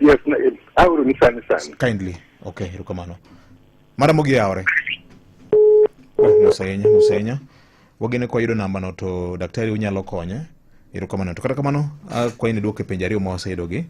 Yes, na eh, aoro ni sani sani. kindly okay erokamano mara mogi yawore oh, mos ahinya mos ahinya wagene kwa yudo nambano to daktari unyalo konye erokamano to kata kamano akwayi ni duoke penjo ariyo ma waseyudogi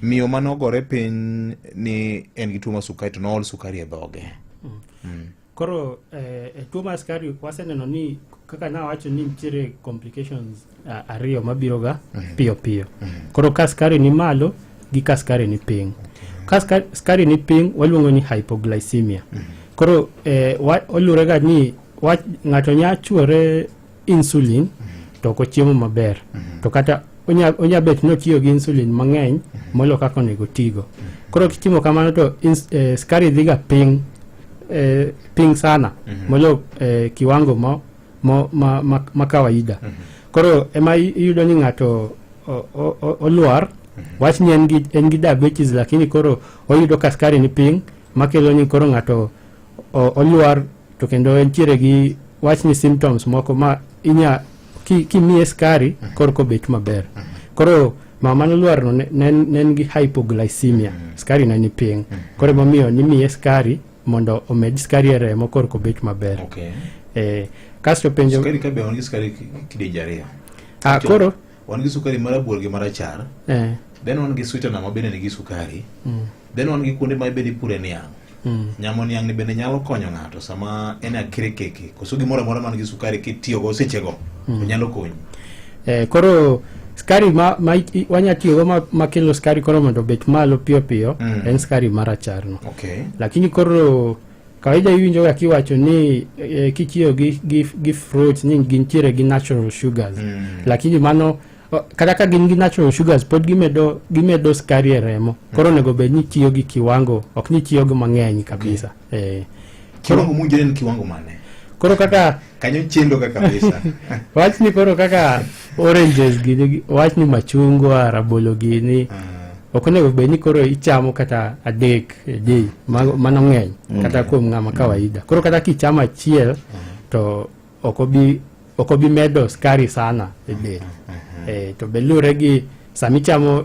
miyo mane ogore piny ni en gi tuo ma sukari to nool sukari e dhoge Koro eh, eh tuo mar skari waseneno ni kaka nawacho ni nitiere complications uh, ariyo mabiroga mm -hmm. piyo piyo mm -hmm. koro ka skari ni malo gi ka skari ni piny okay. ka skari ni piny waluongo ni hypoglycemia mm -hmm. koro eh, olurega ni ng'ato nya chwore insulin to ok ochiemo maber to kata onya- onya bet ni otiyo gi insulin mang'eny molo kaka onego otigo koro kitimo kamano to ins- eh, skari dhiga piny eh, piny sana molo eh, kiwango ma, ma, ma, ma, ma kawaida koro ema i- iyudo ni ng'ato o- o- o- olwar wach ni en gi, en gi diabetes lakini koro oyudo ka skari ni piny makelo ni koro ng'ato o- olwar to kendo entiere gi wach ni symptoms moko ma inya kimiye skari mhm. koro kobet maber mhm. koro mama nolwarno ne en gi hypoglycemia mhm. skari ne ni piny koro emomiyo nimiye skari mondo omed skari e remo koro kobet maber eh, kasto penjo ah, koro wan gi sukari marabuor gi marachar eh. then wan gi sweetener ma bende nigi sukari mm. then wan gi kuonde ma bende ipure niang' mm. nyamo niang' ni bende nyalo konyo ng'ato sama en akire keke koso gimoro amora man gi sukari kitiyogo sechego mm. onyalo konyi eh, koro skari ma, ma wanya tiyogo ma, ma kelo skari koro mondo obet malo piyo piyo mm. en skari maracharno okay. lakini koro Kawaida iwinjo ga kiwacho ni e, kitiyo gi, gi, gi fruits ni gintiere gi natural sugars mm. lakini mano kata ka gin gi natural sugars pod gimedo gimedo skari e remo mm. koro onego bed ni tiyo gi kiwango ok ni tiyo gi mang'eny kabisa okay. eh, kiwango mujeni kiwango mane koro kaka kanyo chendo ka kabisa wach ni koro kaka oranges gini wach ni machungwa rabolo gini ah. ok onego bed ni koro ichamo kata adek e day mano ng'eny mm. kata kuom ng'ama mm. kawaida koro kata kichamo achiel mm. to ok obi medo skari sana e del eh, to be lure gi sami chamo